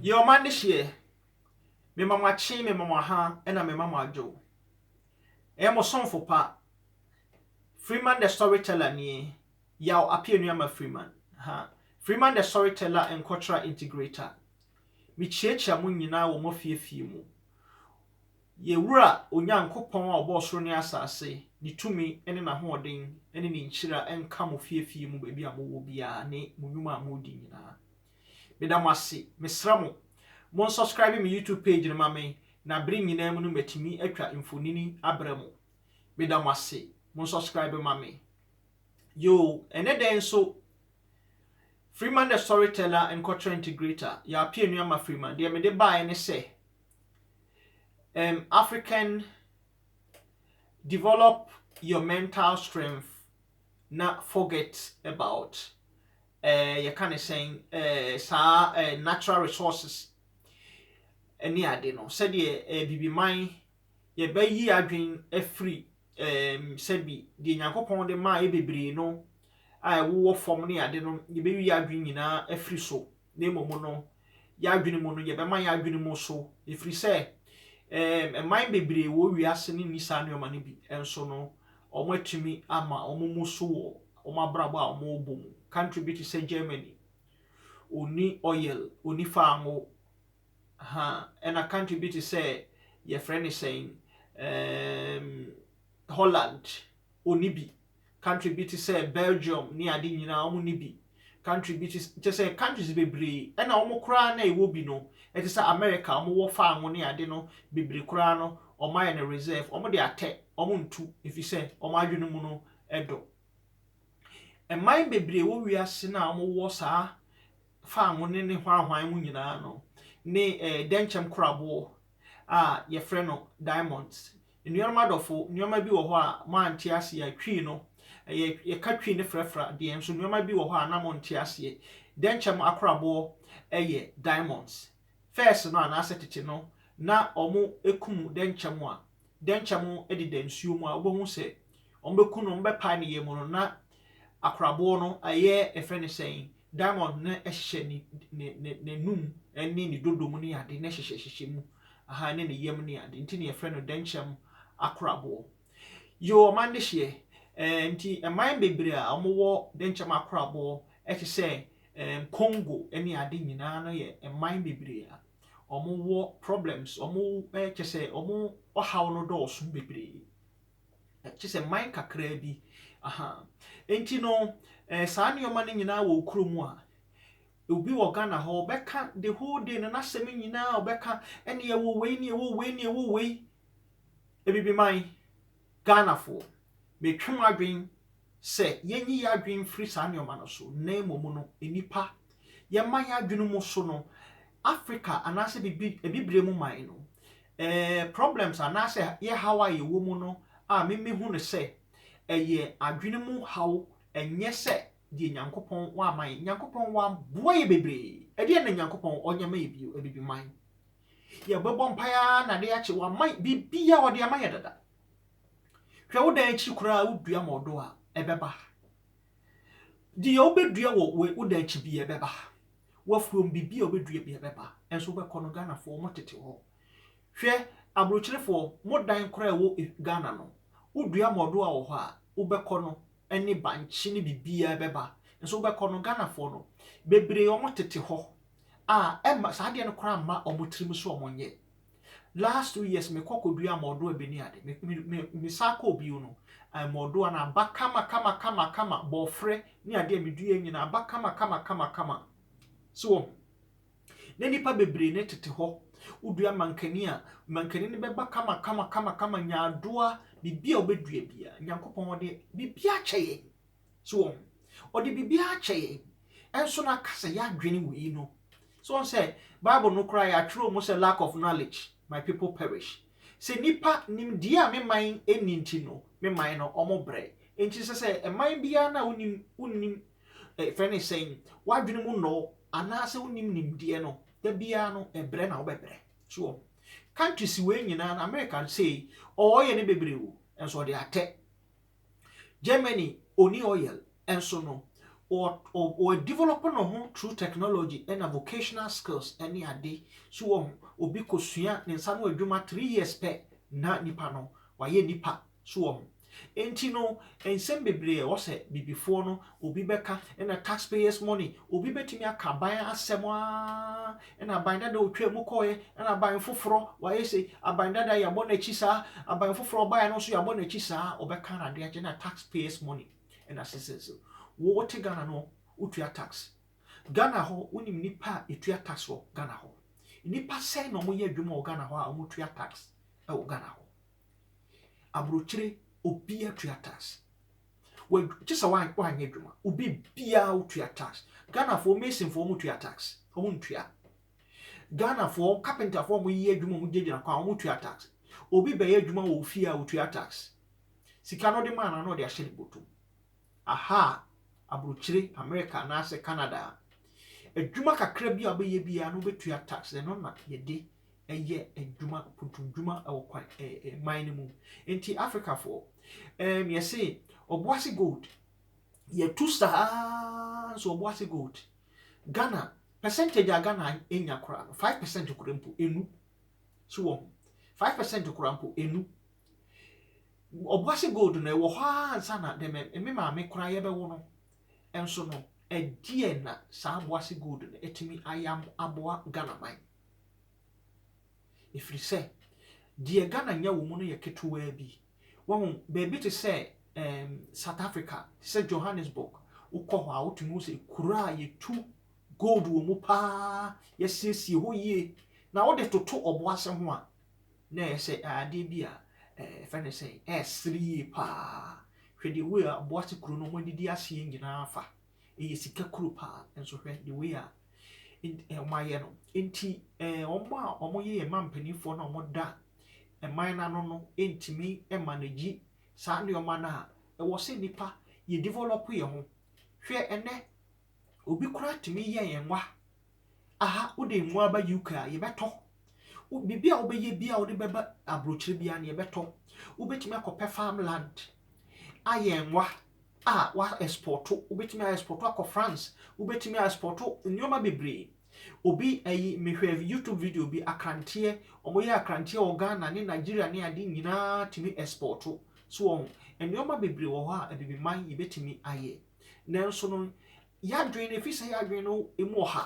Yɛ ɔma adehyeɛ. Mema mo akye, mema mo aha, ɛna mema mo adwo. Ɛyɛ mo somfo pa, Freeman the Storyteller nie, Yaw Apeanuama Freeman. Ha, Freeman the Storyteller Nkwɔtra Integrator. Mekyiakyia mo nyinaa wɔ moafiefie mu. Yɛ Wura Onyankopɔn a ɔbɔɔ soro ne asase, ne tumi ne n'ahoɔden ne ne nhyira nka mo fiefie mu baabi a mowɔ biara ne mo nwuma a moredi nyinaa. Meda mo ase. Mesrɛ mo, mo nsɔskraibe me YouTube page no ma me na bere nyinaa mu no matumi atwa mfonini abrɛ mo. Meda mo ase. Mo nsɔskraibe ma me. Yoo, ɛnɛ dɛn nso Freeman the Storyteller Nkwatra Integrator, Yɛapia Nua Ma Freeman, deɛ mede baeɛ ne sɛ um, African develop your mental strength na forget about eh, yɛka ne sɛn eh, saa eh, natural resources ne ade no sɛdeɛ eh, bibiman yɛbɛyi adwene afiri eh, sɛbi deɛ nyankopɔn de maa yɛ bebree no a ɛwowɔ fam ne ade no yɛbɛyi adwene nyinaa afiri so na mmom no yɛadwene mu no yɛbɛma yɛadwene mu so ɛfiri sɛ eh, ɛman bebree wɔ wiase no nni saa nneɛma no bi nso no wɔatumi ama wɔn mu so wɔ wɔn abrabɔ a wɔrebɔ mu. Country bi te sɛ Germany, wɔnni oil, wɔnni faango, ha, ɛna country bi te sɛ yɛfrɛ no sɛn, um, Holland, wɔnni bi. Country bi te sɛ Belgium ne ade nyinaa, wɔnni bi. Country bi te kyerɛ sɛ countries bebree ɛna wɔn koraa na ɛwɔ bi no ɛte sɛ America a wɔn wɔ faango ne ade no bebree koraa no wɔn ayɛ no reserve wɔn de atɛ wɔn ntu efisɛ wɔn adwene mu no ɛdɔ. Ɛman bebree wɔ wiase no a wɔn wɔ saa faango ne ne hwanhwan mu nyinaa no ne ɛɛ dɛnkyɛm koraboɔ a yɛfrɛ no diamonds Anuanom adɔfo, nneɛma bi wɔ hɔ a moante aseɛ a, Twi no, ɛyɛ, yɛka Twi no frɛfra deɛ, nso nneɛma bi wɔ hɔ a na monte aseɛ. Dɛnkyɛm akoraboɔ yɛ diamonds. First no, anaasɛ tete no, na wɔkum dɛnkyɛm a, dɛnkyɛm deda nsuo mu a, wobɛhu sɛ, Wɔbɛku no, wɔbɛpae ne yam no, na akoraboɔ no, ɛyɛ ɛfrɛ no sɛn, diamond no hyehyɛ ne ne ne n'anum ne ne dodo mu ne ade, na hyehyɛ hyehyɛ mu, aha, ne ne yam ne ade, nti na yɛfrɛ no dɛnkyɛm akoraboɔ. Yoo, ɔman de hyeɛ. Ɛɛ, nti ɛman bebree a wɔwɔ dɛnkyɛm akoraboɔ te sɛ ɛɛm Congo ne ade nyinaa no yɛ ɛman bebree a wɔwɔ problems, wɔn kyɛ sɛ wɔn ɔhaw no dɔɔso bebree. Kyerɛ sɛ mman kakraa bi. Ahaa. Nti no, saa nneɛma no nyinaa wɔ wo kurom a, obi wɔ Ghana hɔ, ɔbɛka the whole day no, n'asɛm nyinaa ɔbɛka, ɛnne yɛwɔ wei ne yɛwɔ wei ne yɛwɔ wei. Abibiman, Ghanafoɔ, metwe mo adwene sɛ yenyi yɛn adwene mfiri saa nneɛma no so, na mmom no, nnipa. Yɛma yɛn adwene mu so no, Africa anaasɛ bibi Abibire mu man no, eh, problems anaasɛ yɛ haw a yɛwɔ mu no, a me mehu no sɛ ɛyɛ adwene mu haw, ɛnyɛ sɛ deɛ Nyankopɔn wama yɛn. Nyankopɔn waboa yɛn bebree. Ɛdeɛn na Nyankopɔn ɔnyɛ ma yɛn bio? Abibiman. Yɛbɛbɔ mpaeɛ ara na adeɛ akye. Wama yɛn biribiara, ɔde ama yɛn dada. Hwɛ wo dan akyi koraa wodua ma ɔdɔ a, ɛbɛba. Deɛ wobɛdua wɔ wo dan akyi bi ɛbɛba. W'afuom biribi a wobɛdua bi ɛbɛba. Ɛnso wobɛkɔ no Ghanafoɔ wɔn tete hɔ. Hwɛ aburokyerefoɔ mo dan koraa ɛwɔ Ghana no wodua ma ɔdɔ a wɔ hɔ a wobɛkɔ no ɛne bankye ne biribiara ɛbɛba. Ɛnso wobɛkɔ no Ghanafoɔ no bebree wɔn tete hɔ a ɛmma saa adeɛ no koraa mma wɔn tirim so wɔn nyɛ. last two years me kɔ kɔ dua mɔdoa bi ne ade me me me me saa kɔ bio no ɛɛ mɔdoa no aba kama kama kama kama bɔfrɛ ne adeɛ me dua nyina aba kama kama kama kama so wɔ ho na nipa bebree ne tete hɔ wodua mankani a mankani no bɛba kama kama kama kama nyaadoa biribi a wobɛdua bia nyankopɔn ɔde biribi akyɛ yɛn So wɔn ɔde biribiara akyɛ yɛn, ɛnso na ka sɛ yɛadwene wei no. So wɔn sɛ Bible no koraa yɛatwerɛ mu sɛ lack of knowledge my people perish. Sɛ nnipa nimdeɛ a me man nni nti no me man no wɔn brɛ. Nti sɛ sɛ ɛman biara no a wonim wonim ɛfɛ ne sɛn w'adwene mu nnɔɔ anaasɛ wonim nimdeɛ no da biara no ɛbrɛ na wobɛbrɛ. So wɔn countries wei nyinaa no America sei ɔɔyɛ ne bebree o ɛnso ɔde atɛ Germany ɔni oil nso no ɔ develop ne ho through technology ɛna vocational skills ɛne ade so wɔ ho obi kɔ sua ne nsa no adwuma three years pɛ na nipa no wayɛ nipa so wɔ ho enti no nsɛm bebree ɛwɔ sɛ bibifoɔ no obi bɛka ɛna taxpayers money obi bɛtumi aka ban asɛm aa Ɛna aban dada ɔtwaa mu kɔeɛ, ɛna aban foforɔ wayɛ sei, aban dada yɛabɔ no akyi saa, aban foforɔ ɔbaeɛ no nso yɛabɔ no akyi saa, ɔbɛka na ade agye na tax payers money ɛna sese so. Wo wote Ghana no wotua tax? Ghana hɔ wonim nnipa a yɛtua tax wɔ Ghana hɔ? Nnipa sɛn na wɔyɛ adwuma wɔ Ghana hɔ a wɔtua tax wɔ Ghana hɔ? Aburokyire obiara tua tax. Wɔ kye sɛ wa wa nyɛ adwuma. Obi biara wotua tax. Ghana foɔ mason foɔ wɔn tua tax. Wɔn ntua. Ghana foɔ carpenter foɔ wɔn yɛ adwuma wɔn gyinagyina kwan wɔn tua tax. Obi bɛyɛ adwuma wɔ ofie a otua tax. Sika no de maa na na ɔde ahyɛ ne bɔtɔ mu. Aha aburokyire America anaasɛ Canada adwuma kakra bi a ɔbɛyɛ biara no bɛtua tax. Ɛno na yɛde. yɛ adwuma, mpuntumdwuma wɔ kwan ɛ ɛ man no mu. Nti Afrikafoɔ, ɛɛm yɛse Ɔboase Gold, yɛtu sa ara nso Ɔboase Gold, Ghana, percentage a Ghana nya koraa no, five percent koraa mpo ɛnu. So wɔ ho? Five percent koraa mpo ɛnu. Ɔboase Gold no ɛwɔ hɔ ara ansa na dɛ me maame koraa yɛbɛwo no. Nso no, ɛdeɛn na saa Ɔboase Gold no atumi ayɛ aboa Ghana man? Ɛfiri sɛ, deɛ Ghana nya wɔ mu no yɛ ketewaa bi. Wahu, baabi te sɛ ɛɛm, South Africa, te sɛ Johannesburg, wokɔ hɔ a, wotumi hu sɛ kuro a yɛtu gold wɔ mu pa ara, yɛasiesie hɔ yie, na wode toto ɔboase ho a, na ɛyɛ sɛ adeɛ bi a ɛfɛ ne sɛ ɛresere yie pa ara. Hwɛ deɛ wei a ɔboase kuro no wɔadidi aseɛ nyinaa afa. ɛyɛ sika kuro paa nso hwɛ the way a wɔayɛ no nti wɔn a wɔyɛ yɛn man mpanimfoɔ no a wɔda man no ano no ntumi manage saa nneɛma no a ɛwɔ sɛ nnipa yɛ develop yɛn ho hwɛ ɛnɛ obi koraa tumi yɛ yɛn nwa Aha wode mmoa aba UK a, yɛbɛtɔ. Biribi a wobɛyɛ bi a wode bɛba aburokyire biara no, yɛbɛtɔ. Wobɛtumi akɔpɛ farm land ayɛ nwa a woaɛspɔɔto. Wobɛtumi aɛspɔɔto akɔ France. Wobɛtumi aɛspɔɔto nneɛma bebree. Obi ayi mehwɛ YouTube video bi, akranteɛ, wɔyɛ akranteɛ wɔ Ghana ne Nigeria ne ade nyinaa tumi ɛspɔɔto. So wɔn nneɛma bebree wɔ hɔ a abibiman yɛbɛtumi ayɛ. Nanso no, Y'adwen no efisɛ y'adwen no emu ɔha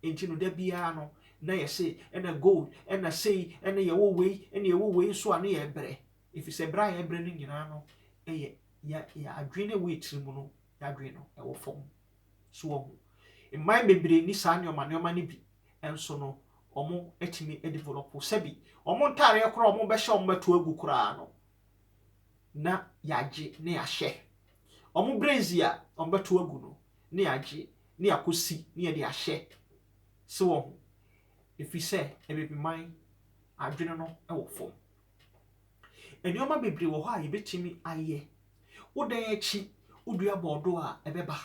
nti no da biara no na yɛse ɛna gold ɛna sei ɛna yɛwɔ wei ɛna yɛwɔ wei nso a na yɛbrɛ efisɛ brɛ a yɛbrɛ no nyinaa no yɛ yɛ yɛ adwen no a ɛwɔ yɛ tiri mu no y'adwen no ɛwɔ fam so wɔho mman bebree ni saa nneɛma nneɛma no bi nso no wɔn atumi develop sɛbi wɔn ntaareɛ koraa wɔn bɛhyɛ wɔn bɛto agu koraa no na yɛagye na yɛahyɛ. Wɔn bredzi a wɔbɛto agu no na yɛagye na yɛakosi na yɛde ahyɛ. So wɔho? Efisɛ Abibiman adwene no wɔ fam. Nneɛma bebree wɔ hɔ a yɛbɛtumi ayɛ. Wo dan akyi wodua bɔɔdo a ɛbɛba.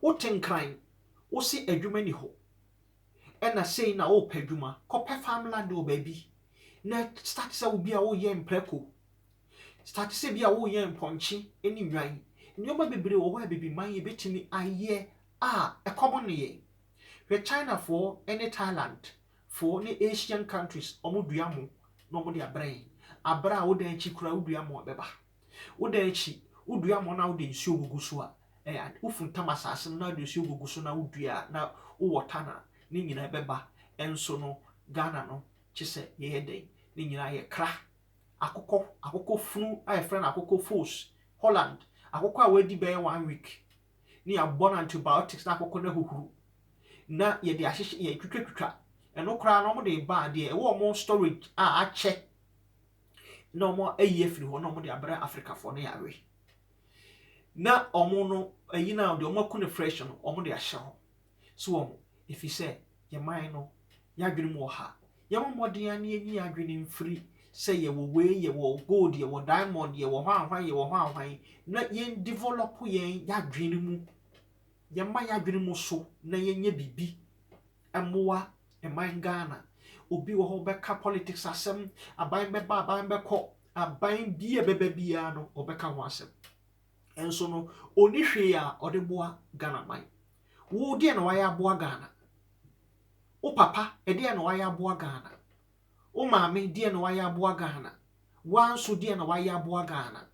Wote nkran, wose adwuma nni hɔ. ɛna sei na wopɛ adwuma, kɔpɛ farm land wɔ baabi na start sɛ wobi a woyɛ mprɛko, start sɛ bi a woyɛ mpɔnkye ne nnwan. Nneɛma bebree wɔ hɔ a Abibiman yɛbɛtumi ayɛ a ɛkɔm nne yɛn. Hwɛ Chinafoɔ ne Thailandfoɔ ne Asian countries, wɔdua mo na wɔde abrɛ yɛn. Abrɛ a woda akyi koraa wodua mo a bɛba. Woda akyi, wodua mmɔɔ na wode nsuo gugu so a, ɛyɛ ade, wofuntam asase no na wode nsuo gugu so na wodua a na wo wɔta na ne nyinaa bɛba. Nso no, Ghana no, kye sɛ yɛyɛ dɛn? Ne nyinaa yɛ kra. Akokɔ, akokɔ funu a yɛfrɛ no akokɔ voos, Holland, akokɔ a wadi bɛyɛ one week ne yɛabɔ no antibiotics na akokɔ no ahuhuru na yɛde ahyehyɛ, yɛtwitwatwitwa ɛno koraa na wɔde reba a, deɛ ɛwɔ wɔn storage a akyɛ na wɔayi afiri hɔ na wɔde abrɛ Afrikafoɔ no yareɛ. Na wɔn no, ayi no a, deɛ wɔako no fresh no, wɔde ahyɛ hɔ. So wɔn, ɛfiri sɛ yɛn man no, yɛadwene mu wɔ ha. Yɛmmɔ mmɔden a na yɛnyi yɛn adwene mfiri sɛ yɛwɔ wei, yɛwɔ gold, yɛwɔ diamond, yɛwɔ hwan hwan, yɛwɔ hwan hwan, na yɛn develop yɛn yɛadwene mu, yɛmma yɛadwene mu so na yɛnyɛ biribi. mmoa man Ghana. Obi wɔ hɔ ɔbɛka politics asɛm, aban bɛba aban bɛkɔ, aban bi a ɛbɛba biara no ɔbɛka ho asɛm. Nso no ɔni hwee a ɔde boa Ghana man. Wo deɛ na wayɛ aboa Ghana? Wo papa deɛ na wayɛ aboa Ghana? Wo maame deɛ na wayɛ aboa Ghana? Woa nso deɛ na wayɛ aboa Ghana?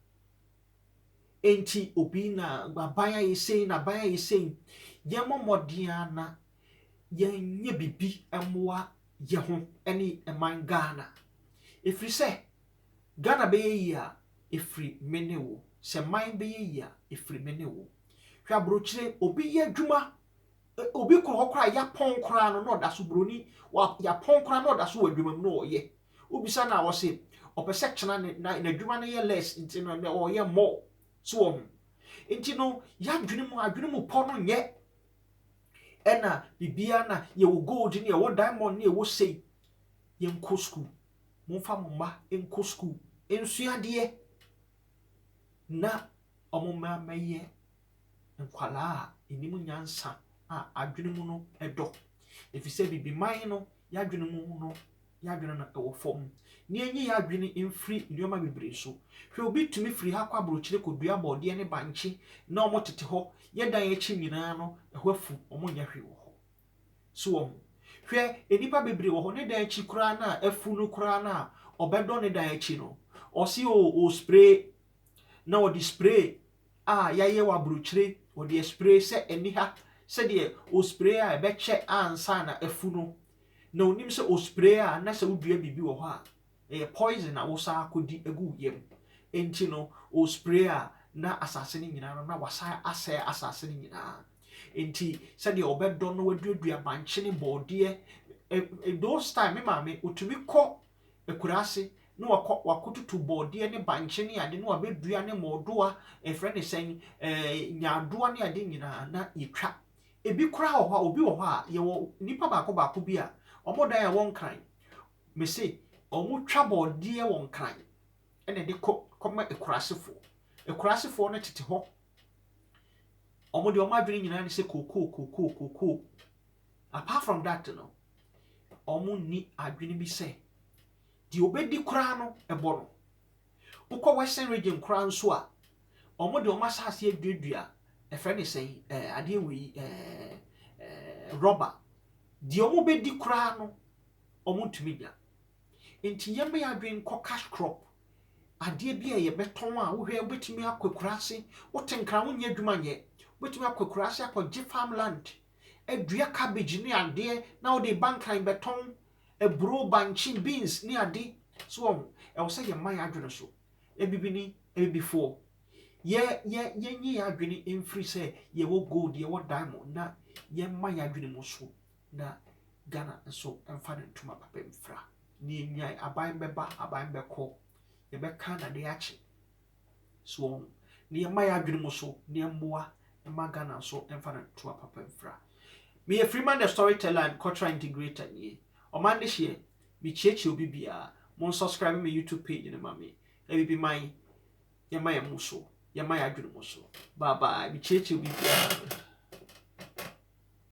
Enti obi na aban ayɛ sei na aban ayɛ sei. Yɛmmɔ mmɔden na yɛnyɛ biribi mmoa yɛn ho ne man Ghana. Ɛfiri sɛ, Ghana bɛyɛ yie a, ɛfiri me ne wo. Sɛ man bɛyɛ yie a, ɛfiri me ne wo. Hwɛ aburokyire, obi yɛ adwuma, obi kɔ hɔ koraa a, yɛapɔn koraa no na ɔda so, buroni, yɛapɔn koraa na ɔda so wɔ adwuma mu na ɔyɛ. Wobisa no a, ɔse ɔpɛ sɛ kyena ne, na n'adwuma no yɛ less nti no, na ɔyɛ more. So wɔn. Nti no, yɛadwene mu, adwene mu pɔ no nyɛ ɛna biribiara na yɛwɔ gold ne yɛwɔ diamond ne yɛwɔ sei yɛnkɔ sukuu momfa mo mma nkɔ sukuu nsua adeɛ na wɔn mma mmɛyɛ nkwadaa a ɛnim nyansa a adwene mu no ɛdɔ ɛfiri sɛ bibiman no yɛadwene mu no yɛn adwene no wɔ fam, na yɛnyi yɛn adwene mfiri nneɛma bebree so. Hwɛ, obi tumi firi ha kɔ aburokyire kɔdua borɔdeɛ ne bankye na wɔtete hɔ, yɛ dan akyi nyinaa no, ɛhɔ afu, wɔnyɛ hwee wɔ hɔ. So wahu? Hwɛ, nnipa bebree wɔ hɔ, ne dan akyi koraa no a afu no koraa no a, ɔbɛdɔ ne dan akyi no, ɔse o, ɔrespray, na ɔde spray a yɛayɛ wɔ aburokyire, ɔde aspray sɛ ɛnni ha, sɛdeɛ ɔspray a ɛbɛkyɛ ansa na afu no na onim sɛ ospray a na sɛ wodua biribi wɔ hɔ a ɛyɛ poison a wosan akɔdi agu wo yam nti no ospray a na asase no nyinaa no na wasan asɛe asase no nyinaa nti sɛdeɛ ɔbɛdɔ no waduadua bankye ne bɔɔdeɛ eh, those time me maame otumi kɔ akuraa ase na wakɔ wakɔtutu bɔɔdeɛ ne bankye ne ade na wabɛdua ne mɔɔdoa ɛfrɛ ne sɛn eh, nyaadoa ne ade nyinaa na yɛtwa Ebi koraa wɔ hɔ a, obi wɔ hɔ a, yɛwɔ nnipa baako baako bi a, wɔn dan a ɛwɔ Nkran, mese wɔtwa bɔɔdeɛ wɔ Nkran na ɛde kɔ kɔma Akurasefoɔ. Akurasefoɔ no tete hɔ. Wɔn deɛ wɔn adwene nyinaa ne sɛ kookoo kookoo kookoo. Apart from that no, wɔnni adwene bi sɛ deɛ obɛdi koraa no ɛbɔ no. Wokɔ western region koraa nso a, wɔde wɔn asase aduadua ɛfrɛ ne sɛn ɛɛ adeɛ wei ɛɛ rɔba deɛ wɔbɛdi koraa no wɔntumi nya nti yɛmmɛ yɛ adwene nkɔ cash crop adeɛ bi a yɛbɛtɔn a wohwɛ wobɛtumi akɔ akuraase wote nkra wonyɛ adwuma nyɛ wobɛtumi akɔ akuraase akɔgye farmland adua cabbage ne adeɛ na wode ba nkran bɛtɔn aburoo, bankye, beans ne ade so wɔ ho. Ɛwɔ sɛ yɛma yɛn adwene so. Abibini, Abibifoɔ, yɛ yɛ yɛnyi yɛn adwene mfiri sɛ yɛwɔ gold, yɛwɔ diamond na yɛmma yɛn adwene mu so na Ghana nso mfa ne ntoma papa mfira. Nea enyan aban bɛba, aban bɛkɔ. Yɛbɛka na adeɛ akye. So wɔn na yɛ mma yɛ adwene mu so na yɛ mmoa mma Ghana nso mfa no ntoa papa mfira. Me yɛ Freeman the Storyteller and Cultural Integrator nie. Ɔman de hyeɛ, me kyeakyia obi biara, mo nsubscribe me YouTube page no ma me, Abibiman, yɛ mma yɛ mu so, yɛ mma yɛ adwene mu so, bye bye, me kyeakyia obi biara.